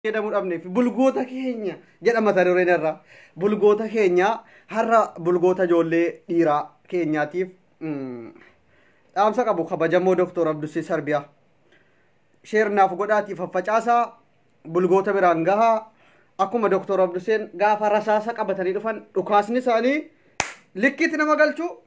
jedhamu dhabneef bulgoota keenya jedha mata dureen irraa bulgoota keenya har'a bulgoota ijoollee dhiiraa keenyaatiif mm, dhaamsa qabu kabajamoo doktor abdusii sarbiyaa sheer naaf godhaati faffacaasaa bulgoota biraan gahaa akkuma doktor abduseen gaafa rasaasa qabatanii dhufan dhukaasni isaanii likkiitti nama galchuu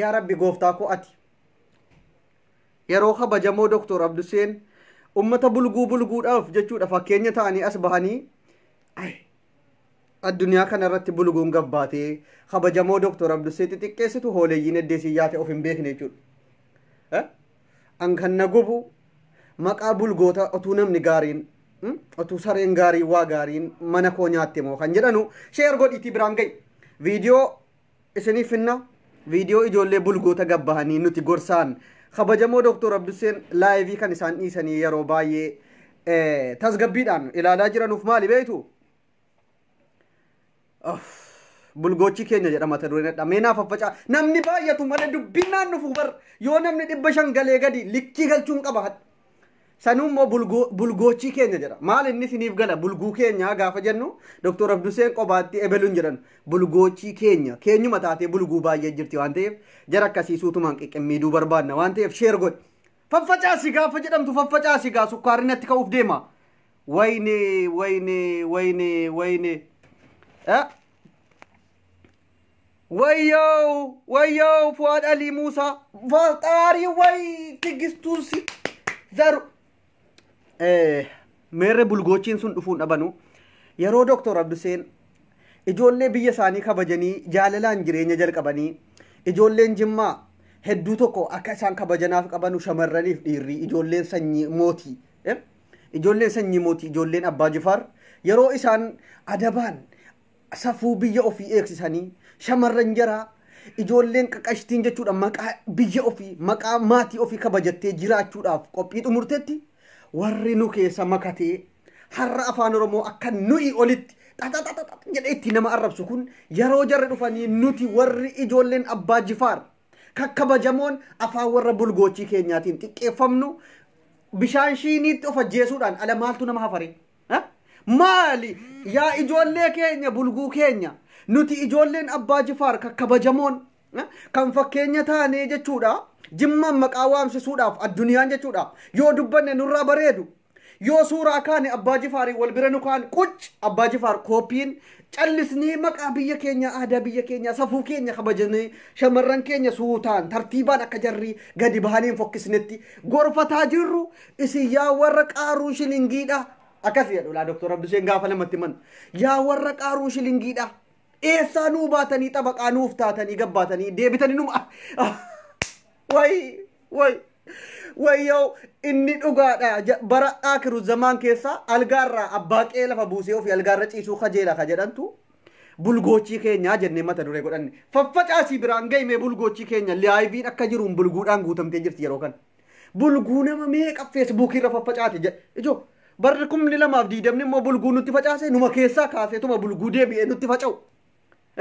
Yaa Rabbi gooftaa koo ati yeroo kabajamoo Doktor Abduseen ummata bulguu bulguudhaaf jechuudha fakkeenya ta'anii as bahanii ay addunyaa kana irratti bulguun gabbaatee kabajamoo Doktor Abdusee xixiqqeessitu hooleyyiin eddeesii yaate of hin beekne jechuudha. An kan na gubu maqaa bulgoota otuu namni gaariin otuu sareen gaariin waa gaariin mana koo nyaatte moo kan jedhanu sheer godhiitii biraan ga'i. Viidiyoo isiniif finna viidiyoo ijoollee bulgoota gabbahanii nuti gorsaan kabajamoo Dooktor Abdusseen laayivii kan isaan dhiisanii yeroo baay'ee eh, tasgabbiidhaan ilaalaa jiranuuf maali beektu? Of, bulgoochi keenya jedha mata dureen adda meenaa faffacaa namni baay'atu malee dubbinnaan dhufu bar yoo namni dhibba shan galee gadi likkii galchuun qaba hadha. Sanuu immoo bulguu bulgoochii keenya jedha. Maal inni isiniif gala bulguu keenya gaafa jennu Dr. Abduseen qobaatti ebelu hin jedhan. Bulgoochii keenya keenyuma taatee bulguu baay'ee jirti waan ta'eef jara akkasii suutumaan qiqqimmiiduu barbaadna waan ta'eef sheer godhi. Faffacaasi gaafa jedhamtu faffacaasi gaa sukkaarri natti ka'uuf deema. Wayne wayne wayne wayne. Eh? Wayyoo wayyoo Fuwaad Alii Muusaa Faxaarii wayii tigistuun si zaru. Eh, Meerre bulgoochiin sun dhufuun dhabanu yeroo Dooktor Abduseen ijoollee biyya isaanii kabajanii jaalalaan jireenya jalqabanii ijoolleen Jimmaa hedduu tokko akka isaan kabajanaaf qabanu shamarraniif dhiirri ijoolleen sanyii mootii. eh, Ijoolleen sanyii mootii ijoolleen Abbaa Jifaar yeroo isaan adabaan safuu biyya ofii eegsisanii shamarran jaraa ijoolleen qaqashtiin jechuudha maqaa biyya ofii maqaa maatii ofii kabajattee jiraachuudhaaf qophii xumurtetti warri nu keessa makatee har'a afaan oromoo akka nuyi olitti xaxaxaxax jedhee itti nama arrabsu kun yeroo jarri dhufanii nuti warri ijoolleen abbaa jifaar kakkabajamoon afaan warra bulgoochii keenyaatiin xiqqeeffamnu bishaan shiiniitti of ajjeesuudhaan ala maaltu nama hafaree. Ha? Maali yaa ijoollee keenya bulguu keenya nuti ijoolleen abbaa jifaar kan kabajamoon ha? kan fakkeenya taanee jechuudha jimmaan maqaa waamsisuudhaaf addunyaan jechuudha yoo dubbanne nurraa bareedu yoo suuraa kaane abbaa jifaarii wal bira nu kaan qucc abbaa jifaar kooppiin callisnee maqaa biyya keenya aadaa biyya keenya safuu keenya kabajnee shamarran keenya suutaan tartiibaan akka jarri gadi bahanii hin fokkisnetti gorfataa jirru Isin yaa warra qaaruu shilingiidha. Akkas jedhu laa Dooktor Abdisheen gaafa namatti himan. Yaa warra qaaruu shilingiidha. Eessaa nuu baatanii xabaqaa nuuf taatanii gabbaatanii deebitanii numa. Wayi wayi wayyoo inni dhugaadha Ja- bara aakiru zamaan keessa algaarraa abbaa qe'ee lafa buusee ofii algaarra ciisuu kajeela ka jedhantu bulgoochii keenyaa jennee mata duree godhanne. Faffacaasii biraan gahimee bulgoochii keenya liyaayiviin akka jiruun bulguudhaan guutamtee jirti yeroo kana. Bulguu nama meeqa feesbuukii irra faffacaate jedhe. Ijoo barri kumni lamaaf diidamni immoo bulguu nutti facaase numa keessaa kaaseetuma bulguu deebi'ee nutti faca'u.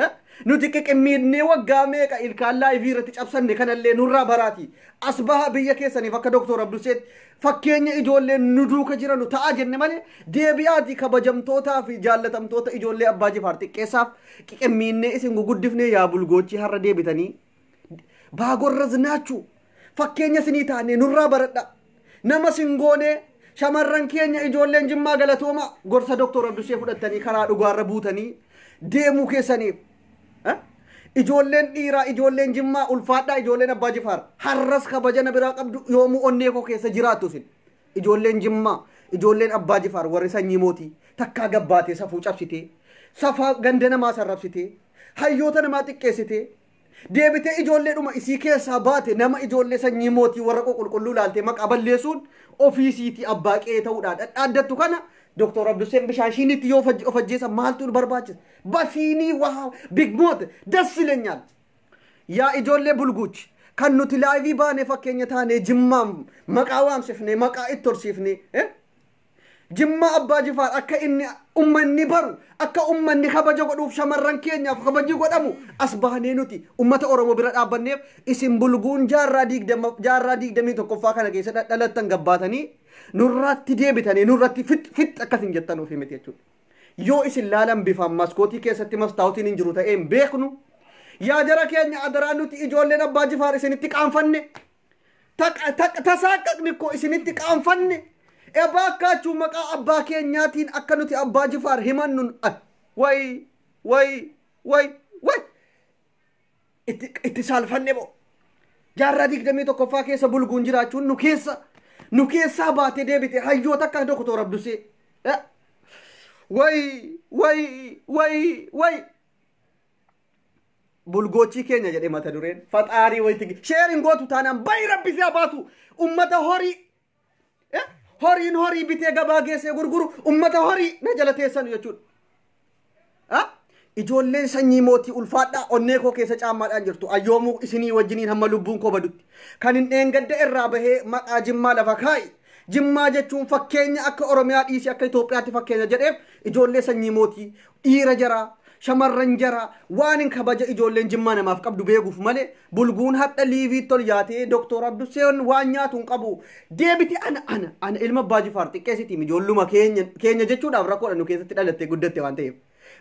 Eh? Nuti qiqimmiidnee waggaa meeqa ilkaan laayivii irratti cabsanne kanallee nurraa baraati. As baha biyya keessaniif akka Dooktor Abdusseetti fakkeenya ijoollee nu duuka jiranu ta'a jenne malee deebi'aati kabajamtootaa fi jaallatamtoota ijoollee Abbaa Jifaar xiqqeessaaf qiqimmiidnee isin guguddifnee yaa bulgoochii har'a deebitanii baagorra zinaachuu fakkeenya sinii taanee nurraa baradha nama sin goonee shamarran keenya ijoolleen jimmaa galatooma gorsa doktor abdushee fudhattanii karaa dhugaarra buutanii deemuu keessaniif eh? ijoolleen dhiiraa ijoolleen jimmaa ulfaadhaa ijoolleen abbaa jifaar harras kabaja na biraa qabdu yoomuu onnee koo keessa jiraattu sin Ijoolleen Jimmaa, ijoolleen Abbaa Jifaar warri sanyii mootii takkaa gad baatee safuu cabsitee, safaa ganda namaa sarrabsitee, hayyoota namaa xiqqeessitee, deebitee ijoolleedhuma isii keessaa baate nama ijoollee sanyii mootii warra ququlqulluu ilaaltee maqaa balleessuun ofii isiitii abbaa qe'ee ta'uudhaan dhadhaaddattu kana Doktor Abdusseen bishaan shiiniitti yoo of ajjeesan maaltu nu barbaachisa? Basiinii waa bigmoota das ilenyaal. Yaa ijoollee bulguuch kan nuti laayivii baanee fakkeenya taanee jimmaam maqaa waamsifnee maqaa itti horsiifnee eh? jimmaa abbaa jifaar akka inni ummanni baru akka ummanni kabaja godhuuf shamarran keenyaaf kabaji godhamu as baanee nuti ummata oromoo bira dhaabbanneef isin bulguun jaarraa digdama jaarraa digdamii tokkoffaa kana keessa dhadhalattan gabbaatanii nurraatti deebitanii nurratti fit fit akkas hin jettan ofii miti jechuudha. Yoo isin laalan bifaan maskootii keessatti mastaawotiin hin jiru ta'ee hin beeknu. Yaa jara keenya adaraa nuti ijoolleen abbaa jifaar isinitti qaanfanne. Taqa- taqa- Tasaaqqaqni koo isinitti qaanfanne. Ebaa akkaachuu maqaa abbaa keenyaatiin akka nuti abbaa jifaar himannun. ah, Way way way way. itti itti saalfanne moo jaarraa digdamii tokkoffaa keessa bulguun jiraachuun nu keessa nu keessaa baatee deebite hayyoota akka doktoor Abdusee Eh, way way way way bulgoochii keenya jedhee mata dureen faxaarii wayitti sheerin gootu taanaan bayi rabbi siyaa baasu ummata horii Eh, horiin horii bitee gabaa geessee gurguru ummata horii na jala teessanu jechuudha. Ah, Ijoolleen sanyii mootii ulfaadhaa onnee koo keessa caammaadhaan jirtu ayyoomuu isinii wajjiniin hamma lubbuun koo badutti kan hin dheengadde irraa bahee maqaa jimmaa lafa kaa'i. Jimmaa jechuun fakkeenya akka Oromiyaa dhiisii akka Itoophiyaatti fakkeenya jedheef ijoollee sanyii mootii Dhiira jaraa, shamarran jaraa, waanin kabaja ijoolleen Jimmaa namaaf qabdu beekuuf malee bulguun hadha liiviitti ol yaatee Doktor Abduseen waan nyaatu hin qabu. Deebiti ana ana ana ilma Abbaa Jifaar xiqqeessitiim ijoolluma keenya keenya jechuudhaaf rakkoodha nu keessatti dhalattee guddatte waan ta'eef.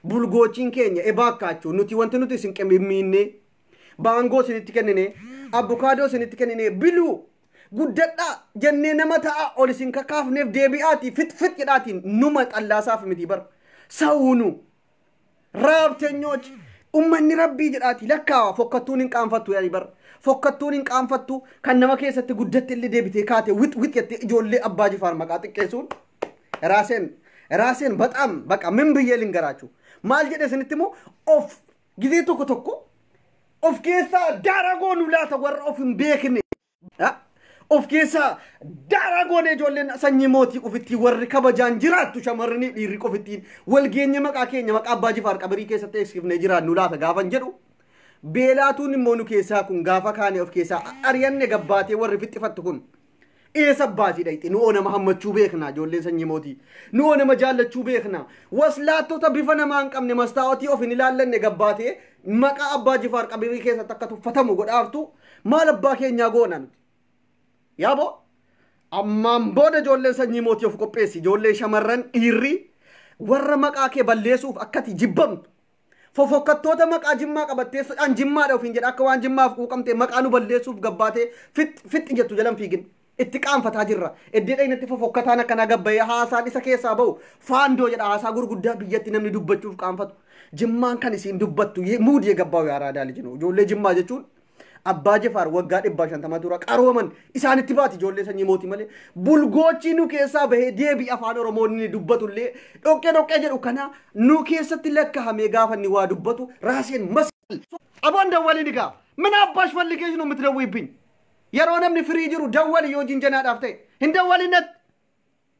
Bulgoochiin keenya ebaa akkaachuu nuti wanti nuti isin qimimmiinnee baangoo isinitti kennine abbukaadoo isinitti kennine biluu Guddadhaa jennee nama ta'aa ol isin kakaafneef deebi'aatii fit fit jedhaatiin numa xallaasaaf miti bar. Sawunu raabteenyoch ummanni rabbii jedhaati lakkaawa fokkattuun hin qaanfattu yaani bar. Fokkattuun hin qaanfattu kan nama keessatti guddatte illee deebitee kaate wit wit jettee ijoollee abbaa jifaar maqaa xiqqeessuun raaseen raaseen baxaam baqa min biyyee lingaraachuu maal jedhe isinitti immoo of Gizee tokko tokko of keessaa daaraa goonu laata warra of hin beekne. Ha? Of keessaa daaraa goone ijoolleen sanyii mootii qofittii warri kabajaan jiraattu shamarranii dhiirri qofittiin wal geenye maqaa keenya maqaa abbaa jifaar qabirii keessatti eegsifnee jiraannu laata gaafan jedhu. Beelaatuun immoo nu keessaa kun gaafa kaane of keessaa ari'anne gabbaatee warri fixxifattu kun. Eessa baasii dhayxe nu'oo nama hammachuu beekna ijoolleen sanyii mootii nu'oo nama jaallachuu beekna waslaattota bifa namaa hin qabne mastaawatii of hin ilaallanne gabbaatee maqaa abbaa jifaar qabirii keessatti akka tuffatamu godhaartu maal abbaa keenyaa goona nuti yaaboo ammaan booda ijoolleen sanyii mootii of qopheessi ijoolleen shamarran dhiirri warra maqaa kee balleessuuf akkati jibbamtu Fofokkattoota maqaa jimmaa qabatteessuudhaan jimmaadha ofiin jedha akka waan jimmaaf quuqamte maqaa nu balleessuuf gabbaatee fixxi fixxi jettu jalan fiigin. Itti qaanfataa jirra. Iddee dhaynatti fofokkataan akkanaa gabbayee haasaan isa keessaa ba'u faandoo jedha haasaa gurguddaa biyyatti namni dubbachuuf qaanfatu. Jimmaan kan isiin dubbattu ye- muudiyee gabbaa'u yaaraa daali jinu. Ijoollee jimmaa jechuun Abbaa Jefaar waggaa dhibbaa shantama dura qarooman isaanitti baati ijoollee sanyii mootii malee bulgoochii nu keessaa bahee deebii afaan Oromoo inni dubbatullee dhoqqee dhoqqee jedhu kana nu keessatti lakkahamee gaafa inni waa dubbatu raaseen mas Aboon dawwalii ni gaafa. Mina abbaash falligee nu miti dawwiibbin. Yeroo namni firii jiru dawwali yoo jinjanaadhaaf ta'e hin dawwalin natti.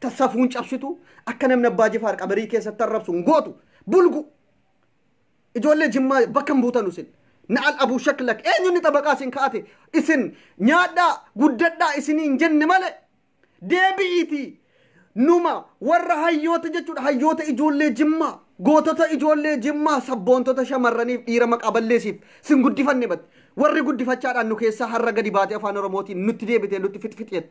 ta safuun cabsitu akka namni abbaa jifaar qabarii keessatti arrabsu hin gootu bulgu ijoollee jimmaa bakka hin buutanu isin na'al abuu shaklak eenyunni xabaqaa isin kaa'ate isin nyaadhaa guddadhaa isinii hin jenne male deebi'iitii numa warra hayyoota jechuudha hayyoota ijoollee jimmaa gootota ijoollee jimmaa sabboontota shamarraniif dhiira maqaa balleesiif sin guddifanne bat warri guddifachaadhaan nu keessaa har'a gadi baatee afaan oromootiin nutti deebitee nutti fixfixeet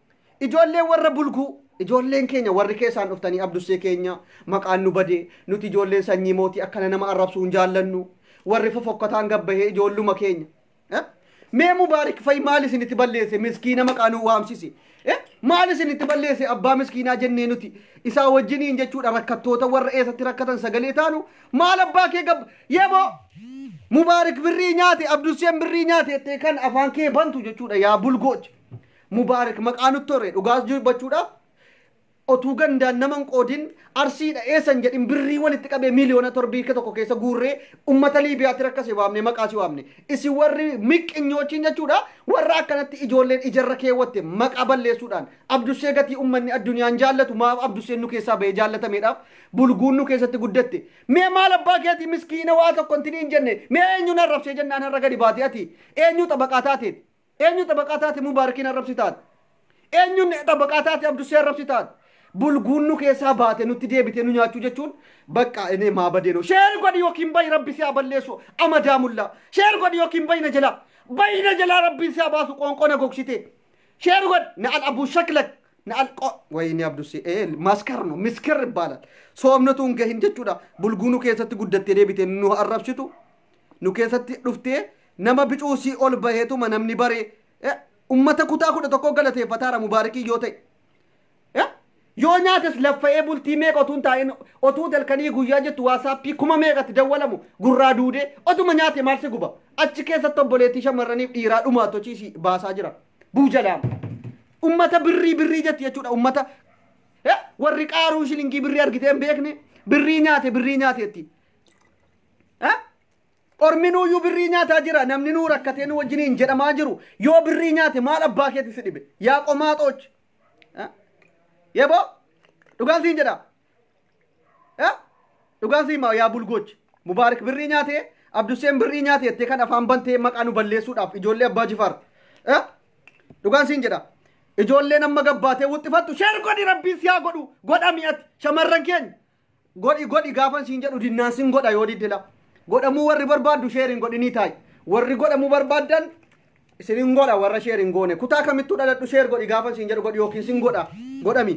Ijoolleen warra bulguu, ijoolleen keenya warri keessaan dhuftanii abdussee keenya maqaan nu bade, nuti ijoolleen sanyii mootii akkana nama arrabsuu hin jaallannu, warri fofokkataan gabbahee ijoolluma keenya. Eh? Mee mubaarik fa'i maal isinitti balleesse miskiina maqaa nu waamsise? Eh? Maal isinitti balleesse abbaa miskiinaa jennee nuti isaa wajjiniin jechuudha rakkattoota warra eessatti rakkatan sagalee taanu maal abbaa kee gabba yeboo mubaarik birrii nyaate abdusseen birrii nyaate jettee kan afaan kee bantu jechuudha yaa bulgoocha. Mubaarik maqaa nutti hore dhugaas dubbachuudhaaf otuu gandaan nama hin qoodin arsiidha eessa hin jedhin birrii walitti qabee miiliyoona torbii ka tokko keessa guurree ummata liibiyaatti rakkase waamne maqaa si waamne isin warri miqqinyoochin jechuudha warra akkanatti ijoolleen ijarra keewwatte maqaa balleessuudhaan abdussee gatii ummanni addunyaan jaallatu maaf abdusseen nu keessaa ba'ee jaallatameedhaaf bulguun nu keessatti guddatte mee maal abbaa keetii miskiina waa tokko intini hin jenne mee eenyuun arrabsee jennaan har'a gadi baate ati eenyuu xabaqaa taateeti Eenyu xabaqaa taate Mubaarakiin arrabsi taate? Eenyuun xabaqaa taate Abdusee arrabsi taate? Bulguun nu keessaa baate nutti deebitee nu nyaachuu jechuun bakka inee maa badee noo. Sheer godhi yookiin bayi rabbi si haa balleessu amadaa mullaa. Sheer godhi yookiin bayi na jalaa. Bayi na jalaa rabbiin si haa baasu qoonqoo na gogsitee. Sheer godhi na al abuu shaklak. Na al qo wayinii abdusee ee maskar no miskir ibbaalal. Soomnotuun gahin jechuudha bulguunu keessatti guddattee deebitee nu arrabsitu. nu keessatti dhuftee nama bicuu sii ol baheetuma namni baree eh, ummata kutaa kudha tokkoo galateeffataara mubaarikii yoo ta'e Eh, yoo nyaates laffa'ee bultii meeqa otuu hin taa'in otuu dalkanii guyyaa jettu waasaappii kuma meeqatti dawwalamu gurraa duudee otuma nyaate maal si guba achi keessatti obboleettii shamarraniif dhiiraa dhumaa tochiisi baasaa jira buujalaam ummata birrii birrii jetti jechuudha ummata eh, warri qaaruu shilingii birrii argitee hin beekne birrii nyaate birrii nyaateetti Eh? Orminuu iyyuu birrii nyaataa jira namni nuu rakkatee nu wajjiniin jedhamaa jiru yoo birrii nyaate maal abbaa keetti si dhibe yaa qomaaxooch. Eh? Yeboo dhugaan siin jedhaa. Eh? Dhugaan siin maa yaa bulgooch. Mubaarik birrii nyaatee Abduseen birrii nyaate jettee kan afaan bantee maqaa nu balleessuudhaaf ijoollee abbaa jifaar. Eh? Dhugaan siin jedhaa. Ijoolleen amma gabbaatee wuxxifattu sheer godhi rabbiin si haa godhu godha mi'atti shamarran keenya. godhi godhi gaafan siin jedhu dinnaan sin godha yoo didde la godhamuu warri barbaaddu sheeriin godhinii taay warri godhamuu barbaaddan isin hin godha warra sheer hin goone kutaa kamittuu dhaladhu sheer godhi gaafan siin jedhu godhi yookiin sin godha godhami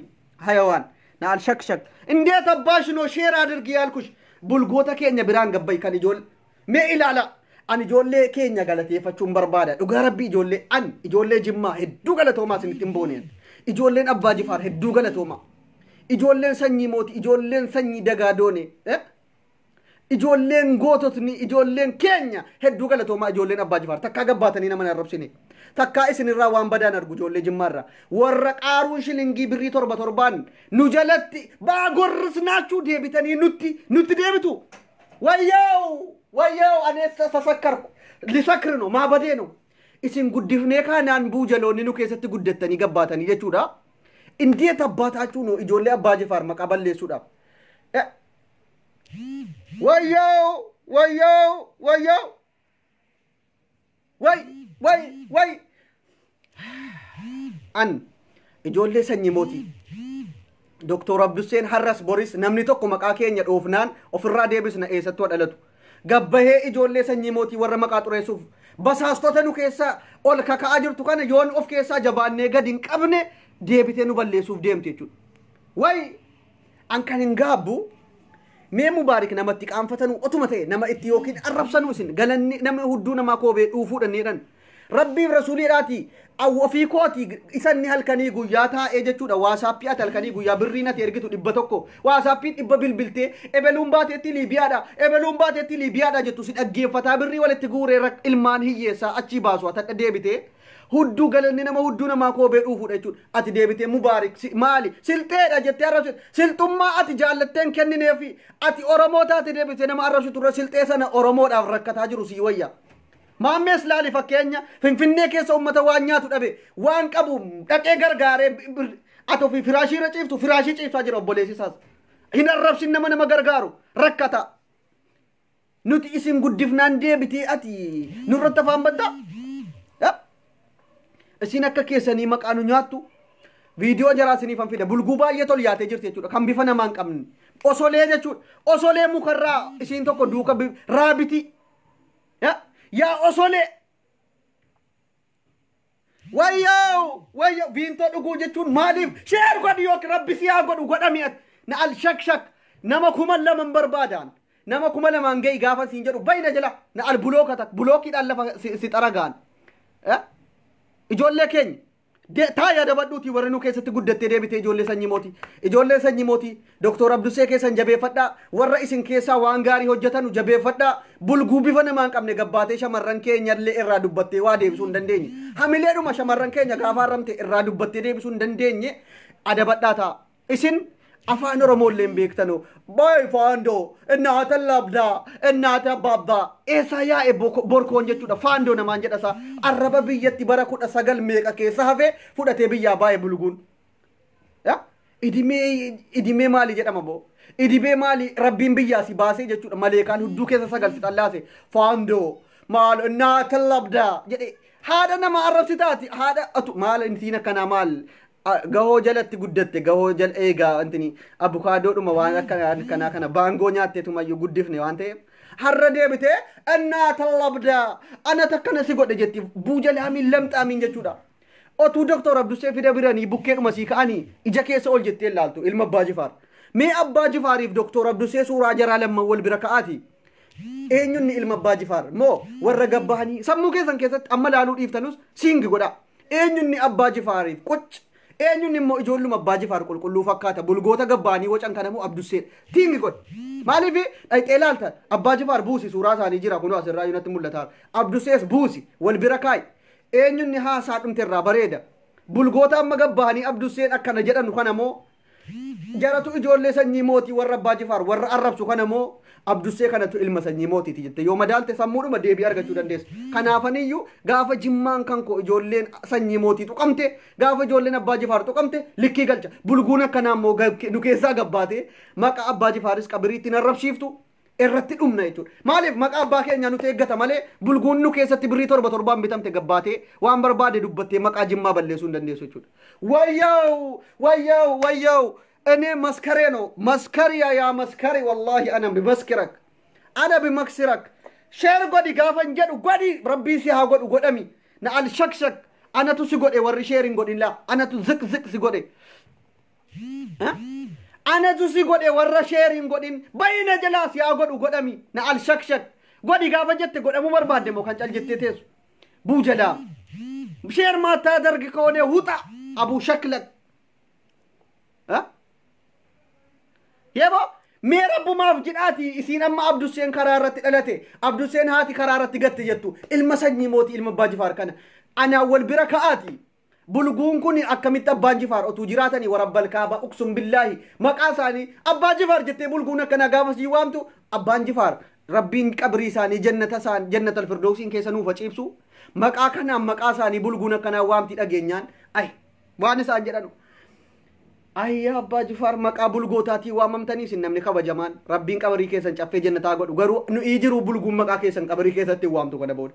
hayawaan na alshakshak indeet abbaash noo sheer adirgi yaalkush bulgoota keenya biraan gabbay kan ijool Mee ilaala ani ijoollee keenya galateeffachuun barbaada dhugaa rabbii ijoollee an ijoollee jimmaa hedduu galatoomaa isinitti hin booneen ijoolleen abbaa jifaar hedduu galatoomaa ijoolleen sanyii mooti ijoolleen sanyii dagaa doone eh? ijoolleen goototni ijoolleen keenya hedduu galatoomaa ijoolleen abbaa jifaar takkaa gabbaatanii nama hin arrabsine takkaa isinirraa waan badaan argu ijoollee jimmaarraa warra qaaruun shilingii birrii torba torbaan nu jalatti baa gorrisnaachuu deebitanii nutti nutti deebitu Wayyoo! Wayyoo! Ani eessa sasakkarku? Lisakri no, maa badee no? Isin guddifnee kaanaan buu jaloonni nu keessatti guddattanii gabbaatanii jechuudha. Indiya tabbaataachuu no ijoollee abbaa jifaar maqaa balleessuudhaaf. Eh, Wayyoo! Wayyoo! Wayyoo! Way way way. An ijoollee sanyii mootii. Doktor Abdusseen har'as boris namni tokko maqaa keenya dhoofnaan ofirraa deebisna eessattuu dhalatu. Gabbahee ijoollee sanyii mootii warra maqaa xureessuuf basaastota nu keessaa ol kaka'aa jirtu kana yoon of keessaa jabaannee gadi hin qabne deebitee nu balleessuuf deemti jechuudha. Way An kan hin gaabbu mee mubaarik namatti qaanfatanuu otuma ta'e nama itti yookiin arrabsanuu isin galanni nama hudduu namaa koobee dhuufuudha ni jedhan. Rabbiif rasuuliidhaati awwa ofii kooti isan ni halkanii guyyaa taa'ee jechuudha waasaappii ati halkanii guyyaa birrii nati ergitu dhibba tokko waasaappii dhibba bilbiltee ebeluun baateetti liibiyaadha ebeluun baateetti liibiyaadha jettu si dhaggeeffataa birrii walitti guuree rak- ilmaan hiyyeessaa achii baasu atadha deebitee Hudduu galanni nama hudduu namaa koobee dhuufuudha jechuudha. Ati deebitee mubaarik si, maali silxeedha jettee arrabsitu. Silxummaa ati jaallatteen kennineefi ati Oromoo taate deebitee nama arrabsitu irra silxee sana Oromoodhaaf rakkataa jiru sii wayya. Maammees laali fakkeenya Finfinnee keessa uummata waan nyaatu dhabe waan qabu dhaqee gargaaree bi- bir- ati ofii firaashii irra ciiftu firaashii ciiftaa jira obboleessi isaas. Hin arrabsin nama nama gargaaru rakkataa. Nuti isin guddifnaan deebitee ati nurratti afaan bantaa? Ya? Isin akka keessanii maqaa nu nyaattu. Viidiyoo jaraa isiniif an fida. Bulguu baay'ee tol yaatee jirti jechuudha. Kan bifa namaa hin qabne. Osolee jechuudha. Osolee mukarraa isiin tokko duuka bi- raabitii. Ya? Yaa osolee. Wayyoo wayyoo viintoo dhuguu jechuun maaliif sheer godhi yookiin rabbi si haa godhu godhami ati na al shak shak nama kuma lama hin barbaadaan nama kuma lamaan ga'i gaafan siin jedhu bayi na jala na al bulooka tak bulookiidhaan lafa si, si xaragaan eh? ijoollee keenya de- taa yaadabadhuutii warri nu keessatti guddattee deebitee ijoollee sanyii mootii ijoollee sanyii mootii Doktoor Abdussee keessan jabeeffadhaa. Warra isin keessaa waan gaarii hojjetanu jabeeffadhaa. Bulguu bifa namaa hin qabne gabbaatee shamarran keenya illee irraa dubbattee waa deebisuu hin dandeenye. Hamileedhuma shamarran keenya gaafa arramte irraa dubbattee deebisuu hin dandeenye adabadhaa ta'a. Isin afaan Oromoo illee hin beektanu. Baay'ee faandoo, innaata labdaa, innaata babbaa. Eessaa yaa'e boko- borkoon jechuudha. Faandoo namaan jedhasaa. Arraba biyyatti bara kudha sagal meeqa keessa hafee fudhatee biyyaa baay'ee bulguun. Ya? Idimee idimee maali jedhama boo? Idimee maali rabbiin biyyaa si baasee jechuudha maleekaan hudduu keessa sagal si xallaase faandoo maal naa tallabdaa jedhe haadha nama arrabsi taati haadha atu maal intiin akkanaa maal Ah, gahoo jalatti guddatte gahoo jal eegaa wantini abukaadoodhuma waan akkanaa akkanaa kana baangoo nyaatteetumayyuu guddifne waan ta'eef har'a deebite annaa tallabdaa ana takkana si godhe jetti buujalaamiin lamxaamiin jechuudha Otuu Doktor Abdussee fida biranii bukkeedhuma sii ka'anii ija keessa ol jettee ilaaltu ilma Abbaa Jifaar. Mee Abbaa Jifaariif Doktor Abdussee suuraa jaraa lamman wal bira ka'aati. Eenyunni ilma Abbaa Jifaar moo warra gabbahanii sammuu keessan keessatti amma laaluu dhiiftanus siingi godhaa. Eenyunni Abbaa Jifaariif qucc. Eenyunni immoo ijoolluma Abbaa Jifaar qulqulluu fakkaata bulgoota gabbahanii wacan kana moo Abdussee tiingi godha. Maaliif dhayxee laalta Abbaa Jifaar buusi suuraa isaanii jira kunoo asirraa yunatti mul'ata. Abdussees buusi wal bira kaa'i. Eenyunni haasaa dhumte irraa bareeda. Bulgoota amma gad bahanii Abdusseen akkana jedhanu kana moo jaratu ijoollee sanyii mootii warra Abbaa Jifaar warra arrabsu kana moo Abdussee kanatu ilma sanyii mootiiti jette yoo madaalte sammuudhuma deebii argachuu dandeessa. Kanaafaniyyuu gaafa jimmaan kan koo ijoolleen sanyii mootii tuqamte gaafa ijoolleen Abbaa Jifaar tuqamte likkii galcha. Bulguun akkanaa immoo nu keessaa gabbaatee maqa Abbaa Jifaaris qabiriitti hin arrabsiiftu irratti dhumna jechuudha. Maaliif maqaa abbaa keenyaa nuti eeggata malee bulguun nu keessatti birrii torba torbaan bitamte gabbaatee waan barbaade dubbattee maqaa jimmaa balleessuu hin dandeessu jechuudha. Wayyaa'u wayyaa'u wayyaa'u inni maskaree noo maskariya yaa maskari wallaahi ana bimaskirak ana bimaksirak sheer godhi gaafan jedhu godhi rabbii si haa godhu godhami na al shakshak anatu si godhe warri sheer hin godhin laa anatu ziq ziq si godhe Anatu si godhe warra sheer hin godhin bayi na jalaa si haa godhu godhami na al shak shak godhi gaafa jette godhamuu barbaadde moo kan cal jettee teessu buu jalaa sheer maataa dargi koonee huxa abuu shaklak Yebo mee rabbumaaf jedhaati isiin amma Abdusseen karaa irratti dhalate Abdusseen haati karaa irratti gatte jettu ilma sanyii mootii ilma abbaa jifaar kana anaa wal bira ka'aati Bulguun kuni akkamitti abbaan jifaar otuu jiraatani warabbal kaaba uksum billaahi maqaa isaani abbaa jifaar jettee bulguun akkanaa gaafa sii waamtu abbaan jifaar rabbiin qabrii isaani jannata isaan jannatal firdowsiin keessa nuuf haciibsu maqaa kanaan maqaa isaani bulguun akkanaa waamti dhageenyaan ay waan isaan jedhanu ayyaa abbaa jifaar maqaa bulgootaatii waamamtanii isin namni kabajamaan rabbiin qabrii keessan caffee jannataa godhu garuu nu'ii jiru bulguun maqaa keessan qabrii keessatti waamtu kana booda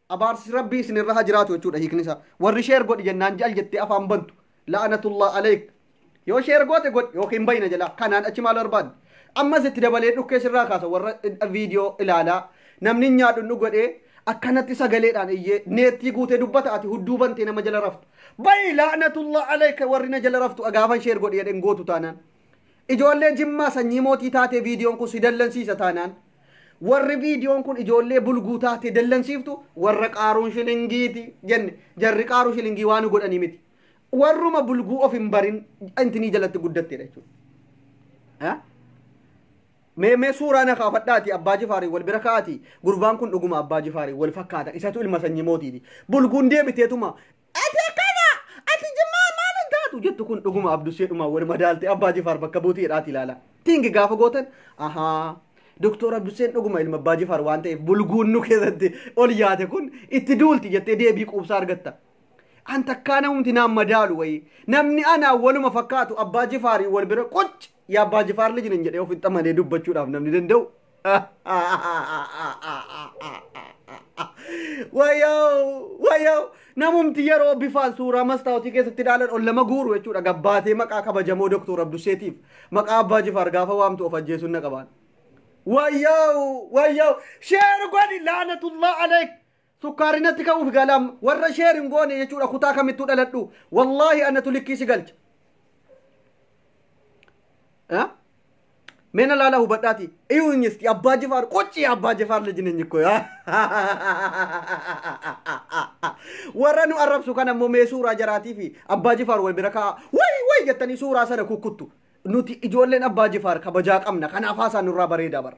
Abaarsi Rabbii isin irra haa jiraatu jechuudha hiikni isaa. Warri sheer godhi jennaan jal jettee afaan bantu. La'anatullah aleek. Yoo sheer goote godhi yookiin bayina jalaa. Kanaan achi maal barbaadde? Ammas itti dabalee dhukkee sirraa kaasa warra viidiyoo ilaalaa. Namni hin nyaadhu hin dhugu jedhee akkanatti sagaleedhaan iyyee neettii guutee dubbata ati hudduu bantee nama jala raftu. Bayi la'anatullah aleeka warri na jala raftu agaafan sheer godhi jedheen gootu taanaan. Ijoollee jimmaa sanyii mootii taatee viidiyoon kun si dallansiisa taanaan. Warri viidiyoon kun ijoollee bulguu taatee dallansiiftu warra qaaruun shilingiiti jenne. Jarri qaaruu shilingii waan godhanii miti. Warruma bulguu of hin barin intinii jalatti guddatteedha jechuudha. Eh? Mee mee suuraa na kaafadhaati abbaa jifaariin wal bira kaa'aati gurbaan kun dhuguma abbaa jifaariin wal fakkaata isatu ilma sanyii mootiiti. Bulguun deebiteetuma Ati akkana! Ati jimmaa maal hin taatu jettu kun dhuguma abdushee dhumaa wal madaalte abbaa jifaar bakka buutii jedhaati ilaala. Tingi gaafa gootan ahaa Doktor Abdusheen dhuguma ilma abbaa jifaar waan ta'eef bulguun nu keessatti ol yaate kun itti duulti jettee deebii quubsaa argatta. An takkaa namumti naan madaalu wayii namni anaa waluma fakkaatu abbaa jifaarii wal bira qucci. yaa abbaa jifaar liji nan jedhee ofitti amanee dubbachuudhaaf namni danda'u. Wayoo wayoo namumti yeroo bifaan suuraa mastaawotii keessatti ilaalan ol lama guuru jechuudha gabbaatee maqaa kabajamoo doktor Abdusseetiif maqaa abbaa jifaar gaafa waamtu of ajjeesuun na qabaan. Wayoo wayoo sheer godhi laanatullah aleek Sukkaari natti ka'uuf gaala amma. Warra share hin goone jechuudha kutaa kamittuu dhaladhu. Wallaahi anatu likkii si galcha. Eh? Mena laala hubadhaati. Iyuu hin isti abbaa jifaar qoccii abbaa jifaar lejine nyikko yaa. Warra nu arrabsu kan ammoo mee suuraa jaraatii fi abbaa jifaar wal bira kaa'a. Way way jettanii suuraa sana kukkuttu. Nuti ijoolleen abbaa jifaar kabajaa qabna kanaaf haasaan nurraa bareedaa bara.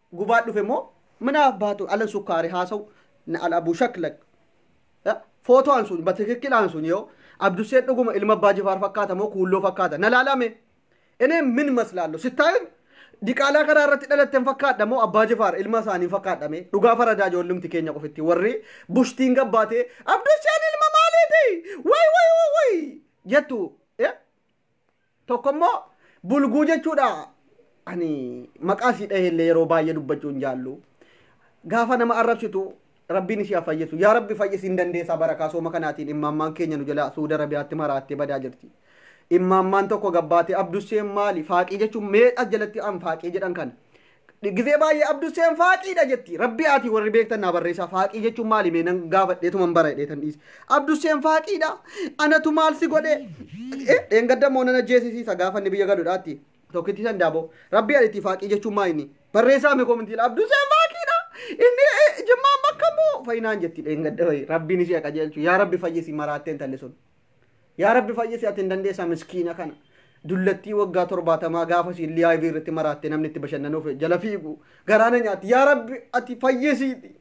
gubaa dhufe moo mana abbaatu alan sukkaari haasa'u na al abu shaklak footo'an sun batikikkilaan sun yoo abdussee dhuguma ilma abbaa jifaar fakkaata moo kuulloo fakkaata na laalame inee min maslaallo sittaayim diqaalaa karaa irratti dhalatten fakkaadha moo abbaa jifaar ilma isaanii fakkaadhame dhugaa faradaa ijoollumti keenya qofitti warri bushtiin gabbaatee abdusseen ilma maaliiti way way way jettu Tokko immoo bulguu jechuudha. Ani maqaa sii dhahee illee yeroo baay'ee dubbachuu hin jaallu. Gaafa nama arrabsitu rabbiin ishee haa fayyisu. Yaa rabbi fayyisi hin dandeessaa barakaa sooma kanaatiin immaammaan keenya nu jalaa Suudi Arabiyaatti maraattee badaa jirti. Immaammaan tokko gabbaatee abdusseen maali faaqii jechuun mee as jalatti an faaqii jedhan kana. Gizee baay'ee abdusseen faaqiidha jetti. Rabbi ati warri beektan naa barreessaa faaqii jechuun maali mee nan gaafadhee tuman bara dheetan dhiise. Abdusseen faaqiidha. Anatu maal si godhe? Dheengadda moo nana jeesisiisa gaafa inni biyya galudhaatti. Tokkitti san daaboo. Rabbi ati faaqii jechuun maa inni? Barreessaa mee komintiila abdusseen faaqiidha. Inni jimmaan bakka moo? Fayinaan jetti dheengadda wayi. Rabbiin ishee qajeelchu. Yaa rabbi fayyisi maraatteen talli sun. Yaa rabbi fayyisi ati hin dandeessaa miskiina kana dullattii waggaa torbaatamaa gaafa siin liyaayivii irratti maraatte namni itti bashannanuuf jala fiigu garaa na nyaatti yaa rabbi ati fayyisiiti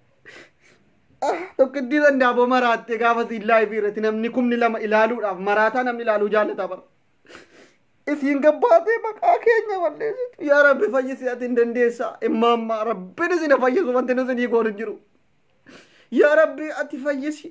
Ah, tokkittii dandaaboo maraatte gaafa siin liyaayivii irratti namni kumni lama ilaaluudhaaf maraataa namni ilaaluu jaallata bara isiin gabbaatee maqaa keenya balleessitu yaa rabbi fayyisi ati hin dandeessaa immaammaa rabbiin isin fayyisu wanti nu isinii goonu hin jiru yaa rabbi ati fayyisi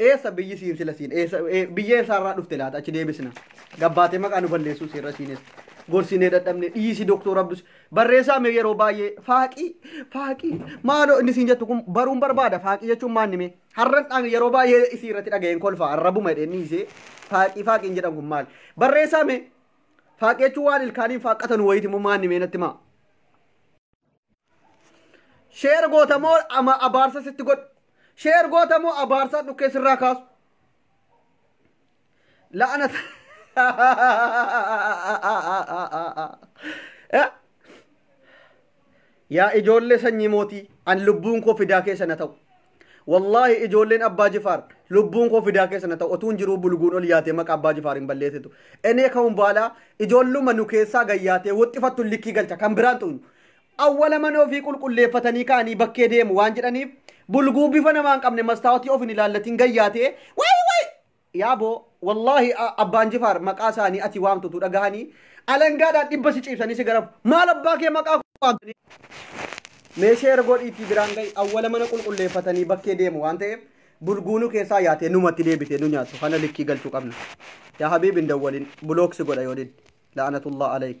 Eessa biyyi siin sila siin eessa ee, biyya eessaarraa dhufte laata achi deebisna. Gabbaatee maqaa nu balleessuu seerra siinis gorsinee dadhabne dhiisi doktor Abdus barreessaa mee yeroo baay'ee faaqii faaqii maaloo inni siin jettu kun baruun barbaada faaqii jechuun maanni mee har'an dhaan yeroo baay'ee isii irratti dhaga'een kolfaa arrabuma jedheen dhiisee faaqii faaqiin jedhan kun maali barreessaa mee faaqii jechuun waan ilkaaniin faaqqatan wayiiti moo maanni mee natti maa. Sheer goota moo ama abaarsa sitti godhu? Sheer goota moo abaarsaa dhukkee sirraa kaasu? La'ana Yaa ijoollee sanyii mootii an lubbuun koo fidaa keessa na ta'u. Wallaahi ijoolleen Abbaa Jifaar lubbuun koo fidaa keessa na ta'u otuun jiruu bulguun ol yaatee maqaa Abbaa Jifaar hin balleessitu. Enee ka'uun baalaa ijoolluma nu keessaa gayyaatee woxxifattu likkii galcha kan biraan xuynu. Awwala mana ofii qulqulleeffatanii ka'anii bakkee deemu waan jedhaniif bulguu bifa namaa hin qabne mastaawotii of hin ilaallatiin gayyaatee wayi wayi Yaa boo wallahi abbaan jifaar maqaa isaanii ati waamtu utuu dhagahanii alangaadhaan dhibba si ciibsanii si garafu maal abbaa kee maqaa koo waamtanii mee sheer godhiitii biraan gahi awwala mana qulqulleeffatanii bakkee deemu waan ta'eef bulguunu keessaa yaatee numatti deebitee nu nyaattu kana likkii galchuu qabna yaa habiib hin dawwalin bulook si godha yoo didde la'anatullah alayk